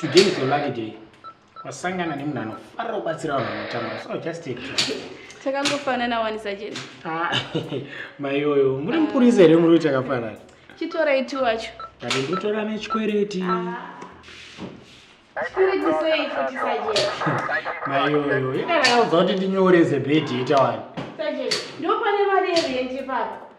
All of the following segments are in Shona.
today is your lucky day wasangana nemunhu anofarira kubatsira vanhu vanotambura so just take it takangofanana wani sajeni ah, maiyoyo muri mupurisa here muri kuti akafanana chitorai ti wacho kati ndikutora nechikwereti ah. maiyoyo ikanakauza kuti ndinyoreze bhedhi ita wani ndopane mari yerendi papa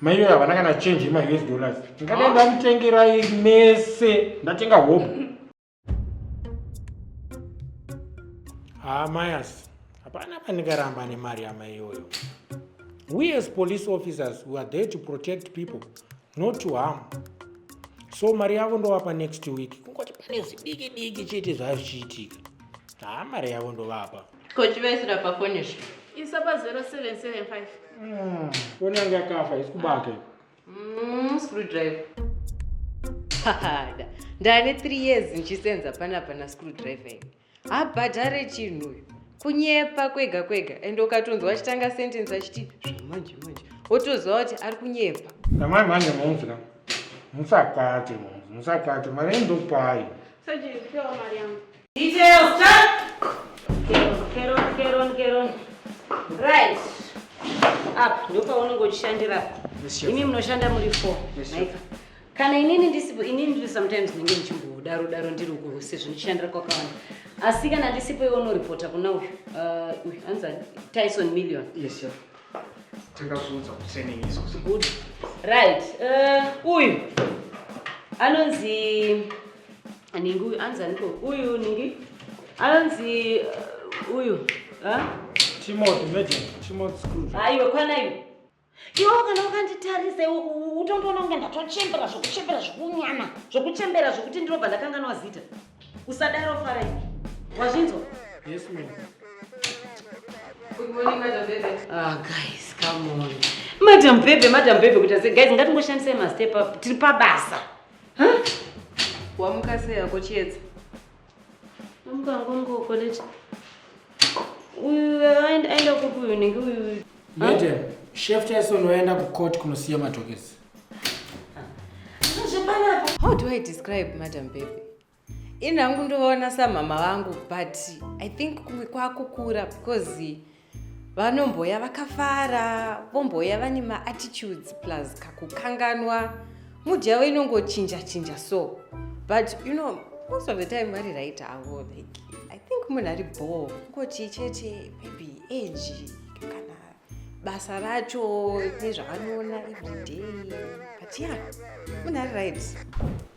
maiwe havana kana change yema us dollars ndingade ndamutengerai mese ndatenga hope haa mayas hapana pandingaramba nemari yamai iyoyo we as police officers we are there to protect people not to harm so mari yavo ndovapa next week kungoti pane zvidiki diki chete zvazvichiitika haa mari yavo ndovapa Ko chivaisira pa phone izvo. Isa pa 0775. Mm. Phone yanga kafa isikubake. Mm, screwdriver. Hada. Ndane 3 years ndichisenza pana pana screwdriver. Habhadhare chinhu uyu. Kunyepa kwega kwega and ukatonzwa achitanga sentence achiti zvamanje manje. Wotoziva kuti ari kunyepa. Kamai manje munzwa. Musakate munzwa. Musakate mari ndopai. Sajiri, pewa mari yangu. Details, Jack. Keron, Keron, Keron. Right. Up, ndipo paunenge uchishandira. Imi munoshanda muri four. Maika. Kana inini ndisipo, inini ndiri sometimes ndinenge ndichimbodaro daro ndiri uko sezvo ndichishandira kwakawanda. Asi kana ndisipo iwe unoripota kuna uyu. Uh, uyu anza Tyson Million. Yes, sir. Takazunza kusene izo. Good. Right. Uh, uyu anonzi Ningi uyu anzi aniko uyu ningi anzi uh, uyu Timothy Major Timothy Scrooge. Haiwe kwana iwe. Iwe kana ukanditarisa utondoona kunge ndatochembera zvokuchembera zvokunyana zvokuchembera zvokuti ndinobva ndakanganwa zita. Usadaro fara iwe. Wazvinzwa? Yes ma'am. Good morning madam Bebe. Ah guys, come on. Madam Bebe, madam Bebe kuita sei? Guys, ngatingoshandisai ma step up. Tiri pabasa. Wamuka sei yako chiedza? Wamuka ngongo college. Uyu aenda kupi uyu nenge uyu? Madam, chef Tyson waenda kucourt kunosiya matokesi. How do I describe Madam Baby? ini hangu ndovaona samhama vangu but i think kumwe kwakukura because vanomboya vakafara vomboya vane maattitudes plus kakukanganwa mood yavo inongochinja chinja so but you know most of the time vari right avo like i think munhu ari bho ngoti chete maybe age kana basa racho nezvavanoona everyday but yeah munhu ari right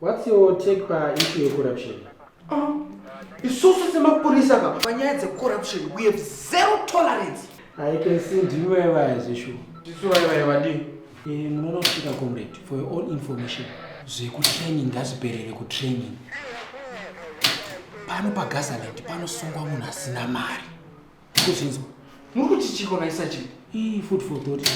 What's your take pa issue of corruption? Oh, isusu semapurisa ka panyaya dzecorruption we have zero tolerance. I can see ndimi vaya vaya zveshuwa. Tisu vaya vaya vadii? Eh, munoona kusvika comrade for your own information. Zvekutraining ngazviperere kutraining. Pano paGazaland panosungwa munhu asina mari. Kuzvinzwa. Muri kuti chiko naisa chii? Ii food for thought.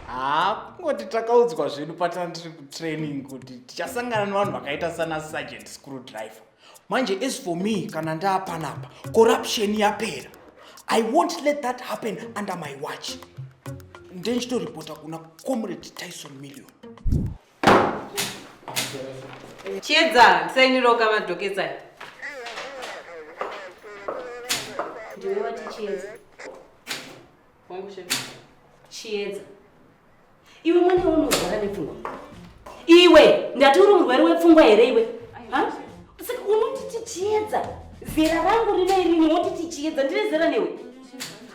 haa kungoti takaudzwa zvedu patana tiri kutraining kuti tichasangana nevanhu vakaita sana sergeant screw driver manje as for me kana ndaapanapa corruption yapera i won't let that happen under my watch ndenditoripota kuna comrade tyson million chiedza ndisainiroka madhoketsai ndiwe wati chiedza Wangu chef. Chiedza. Iwe mwana unorwara nepfungwa. Iwe ndati uri murwere wepfungwa here iwe? Ha? Saka unoti tichiedza. Zera rangu rino iri unoti tichiedza ndine zera newe.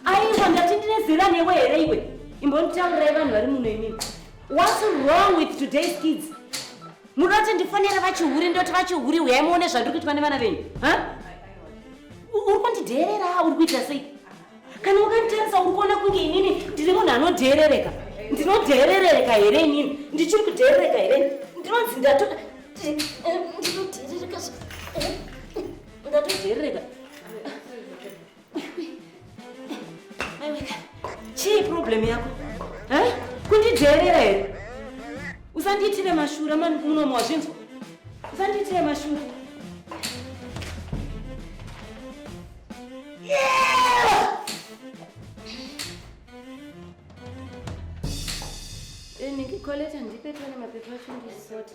Aiwa ndati ndine zera newe here iwe? Imbonitaurai vanhu vari muno imimi. What's wrong with today's kids? Munoda kuti ndifonere vachihure ndoti vachihure huyai muone zvandiri kuitwa nevana venyu. Ha? Uri kundidheerera uri kuita sei? kana ukanditarisa uri kuona kunge inini ndiri munhu anodheerereka ndinodheerereka here inini ndichiri kudheerereka here ndinonzi ndatoda ndinodheerereka ndatodheerereka chii problem yako kundidheerera here usandiitire mashura munomo wazvinzwa usandiitire mashura Nikikoleta eh, ndipe tone mapepa acho ndisote.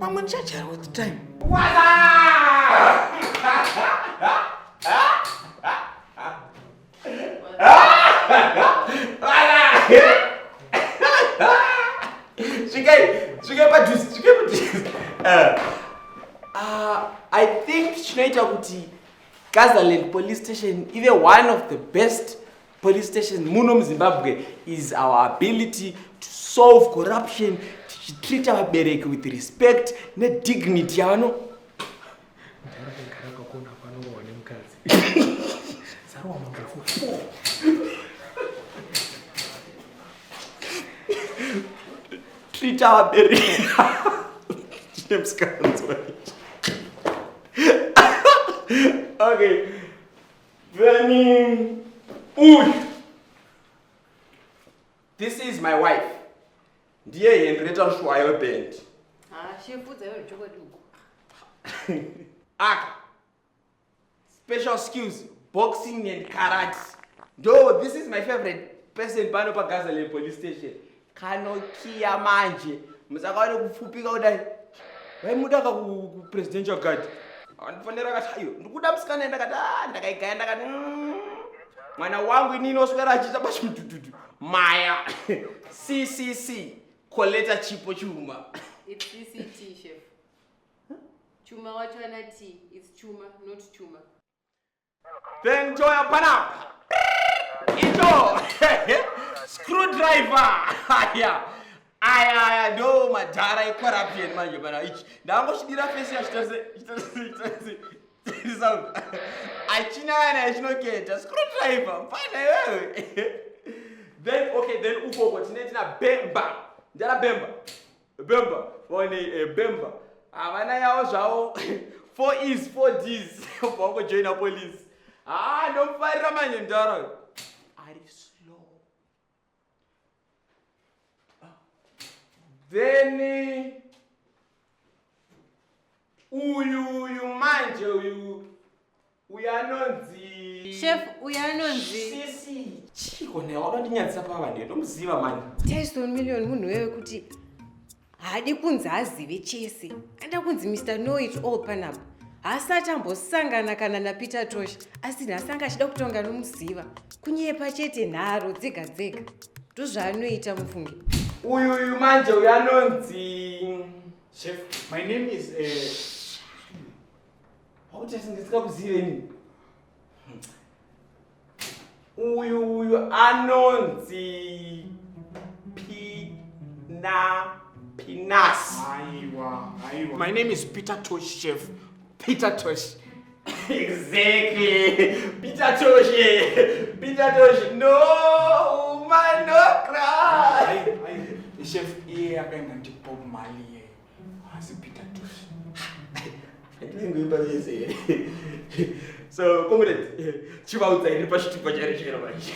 pamwe ndichajara with time chinoita kuti gazaland police station ive one of the best Police station muno muZimbabwe is our ability to solve corruption tichitreata vabereki with respect nedignity yavano treata vabereki okay Then uyu this is my wife ndiye henrieta mshuwayo weband aka special skills boxing and karate ndo this is my favorite person pano pagazalem police station kanokiya manje musakawane kupfupika kudai vaimuda ka kupresidential guard andifanira kati aiyo ndikuda musikana ye ndakati a ndakaigaya ndakati mm, mwana wangu inini oswera achiita pachimudududu maya ccc koleta chipo chuma It's CCT, chef. Chuma wacho ana T. It's chuma, not chuma. Then Joya Panapa. Ito. Screwdriver. Aya. Aya aya ndo madhara ecorruption manje pana ichi. Ndangoshidira face yacho tose. Tose. Sound. Achina yana yachinoketa. Screwdriver. Mfana wewe. Then okay then uko uko tine tina Bemba. Ndara Bemba. Bemba, one eh, Bemba. Havana yavo zvavo. Four is four D's. Bongo join a police. Ah, no fire manje ndaro. Ari slow. Ah. Then eh, uyu uyu manje uyu Uyo anonzi Chef uyo anonzi Sisi. Chiko naye wakandinyadzisa pava ndiye ndomuziva manje. Tyson Million munhu wewe kuti haadi kunzi azive chese. Anoda kunzi Mr Know It All panapa. Haasati ambosangana kana naPeter Tosh asi nhasi anga achida kutonga nomuziva. Kunyepa chete nharo dzega dzega. Ndozvaanoita mufunge. Uyu uyu manje uyu anonzi Chef, my name is uh, Hauti asingitsika kuzive ini. Uyu uyu anonzi Pina Pinas. Aiwa, aiwa. My name is Peter Tosh Chef. Peter Tosh. exactly. Peter Tosh. Peter Tosh. No, man, no cry. Chef, iye akaenda ndipob mali iye. Asi Peter Tufi. Ndinenge imba yese here? So, comrade, chivaudza iri pachitupa chari chero manje.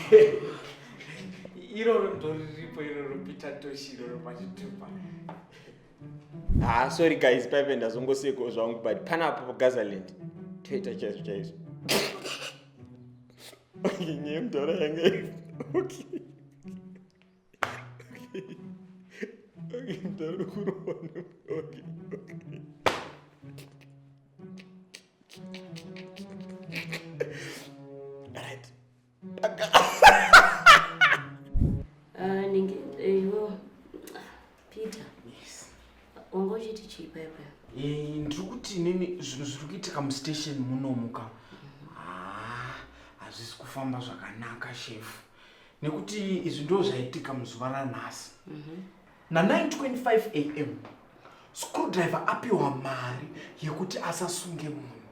Iroro ndoriripo iroro Peter Toshi iroro pachitupa. Ah, sorry guys, paive ndazongoseko zvangu but panapo pagazaland toita chaizvo chaizvo. Okay, nyemdora yange. Okay. Ah, ninge eh, iwo Peter. Yes. Wanga uchiti chii paya paya? Eh, ndiri kuti nini zvinhu zviri kuitika mustation munomuka. Ah, hazvisi kufamba zvakanaka shefu. nekuti izvi ndo zvaitika muzuva ranhasi mhm. na925 am screwdriver apiwa mari yekuti asasunge munhu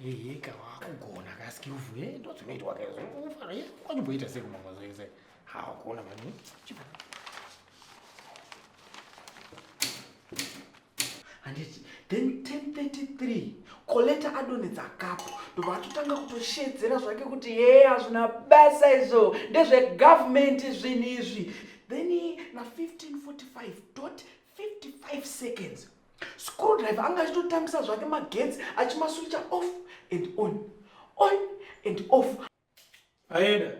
yeyeka wakugona kaskilvu e eh, ndodzinoitwa kaizofara eh, kwachimboita sekumamwazoise hawakuona mani chibaa handiti then 1033 koleta adonedza kapu ndobva atotanga kutoshedzera zvake kuti yee hazvina basa izvo ndezvegovernment zvinhu izvi then na 1545 dot 55 seconds screw driver anga achitotambisa zvake magetsi achimaswicha off and on on and off aenda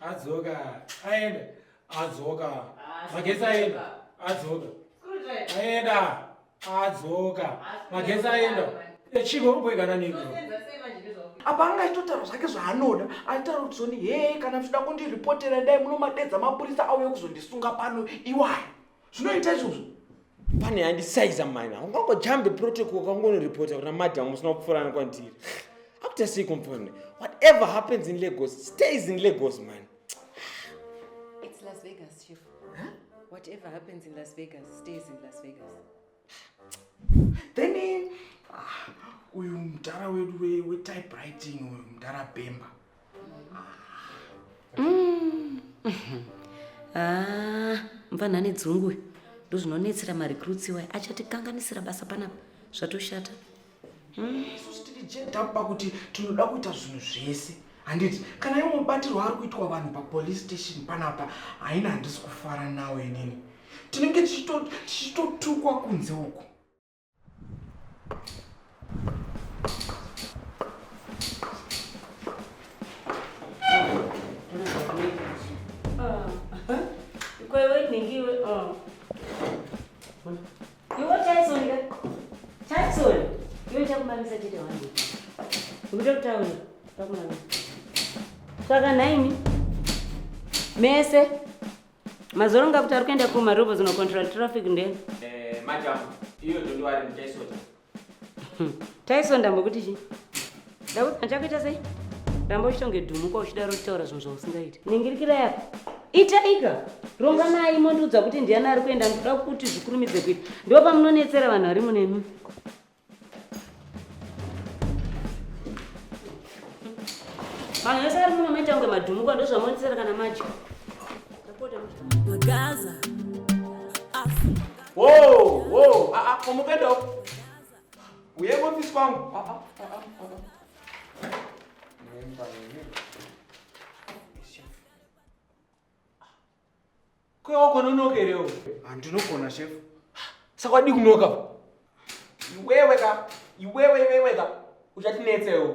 adzoka aenda adzoka magetsi aenda adzoka aenda adzoka magetsi aenda echiko unoboigana niko apa anga aitotaura zvake zvaanoda aitaura kuti zoni hee kana muchida kundiripotera dai munomadedza mapurisa auye kuzondisunga pano iwayo zvinoita izvozvo pane yandisaiza maina ungangojambe protocol ukangonoripota kuna madam usina kupfuurana kwandiri akuita sei komfone whatever happens in lagos stays in lagos man It's Las Vegas, Chief. Whatever happens in Las Vegas stays in Las Vegas. then ah, uyu mdara wedu wetypewriting we uyu mdara bemba mm. ah, mfanha ane dzungu ndozvinonetsera marecruits iwayo achatikanganisira basa panapa zvatoshata isusu tiri jeda pakuti tinoda kuita zvinhu zvese handiti kana iwo mubatirwo ari kuitwa vanhu papolice station panapa haina handisi kufara nawo inini tinenge tichitotukwa kunze uku Iwe Tyson ka? Tyson, iwe chakumamisa chete wangu. Ukuda kutaura, chakumamisa. Saka nhaimi, mese, mazoro nga kuti ari kuenda kumarovo zino control traffic ndeni. Eh, madam, iyo ndondiwari muTyson. Tyson ndambokuti chii? Daud, handichakuita sei? Ramba uchitonge dhumuka uchidaro uchitaura zvinhu zvausingaiti. Ningirikira yako. Itaika. Ronga naye mondiudza kuti ndiani ari kuenda ndoda kuti zvikurumidze kuita. Ndipo pamunonetsera vanhu vari munemi. Vanhu vese vari muno maita kunge madhumuka ndozvamonetsera kana madya. Magaza. Wo, wo, a a, komuka ndo. Uye kofisi kwangu. Ah, ah, ah, ah, ah. Nemba nini? Chef. Kwe wako nonoka here iwe? Handinogona chef. Saka wadii kunoka? Iwewe ka, iwewe iwewe ka, uchatinetsa iwe.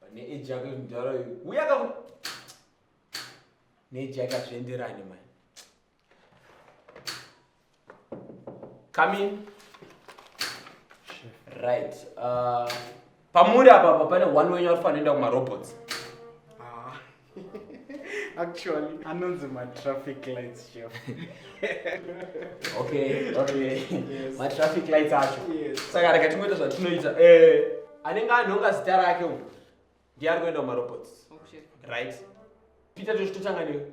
pane age yako mudhara uyu uya ka neage yake azvienderani mani come in right uh, pamuri apapa pane one wenyu ari kufanira kuenda kumarobots Actually, anonzi ma traffic lights chef. okay, okay. Yes. Ma traffic lights acho. Yes. Saka rega tingoita zvatinoita. Eh, anenge anonga zita rake uyu. Ndiye ari kuenda kuma robots. Okay. Right. Peter tozvitotanga newe.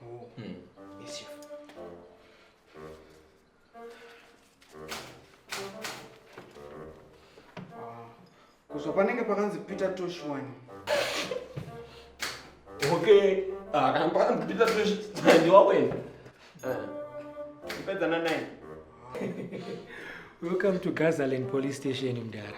Oh. Hmm. Yes, chef. Kuzva panenge pakanzi Peter Tosh wani. Okay. Ah, kana pakanzi Peter Tosh ndiwa wena. Ah. Ipedza na 9. Welcome to Gazaland Police Station mdara.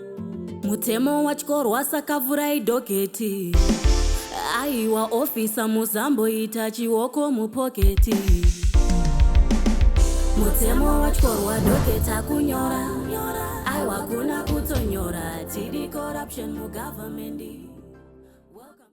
mutemo watyorwa saka vurai dhogeti aiwa ofisa muzamboita chioko mupoketi mutemo watyorwa dhogeti akunyora aiwa kuna kutonyora tiri corruption mugovernment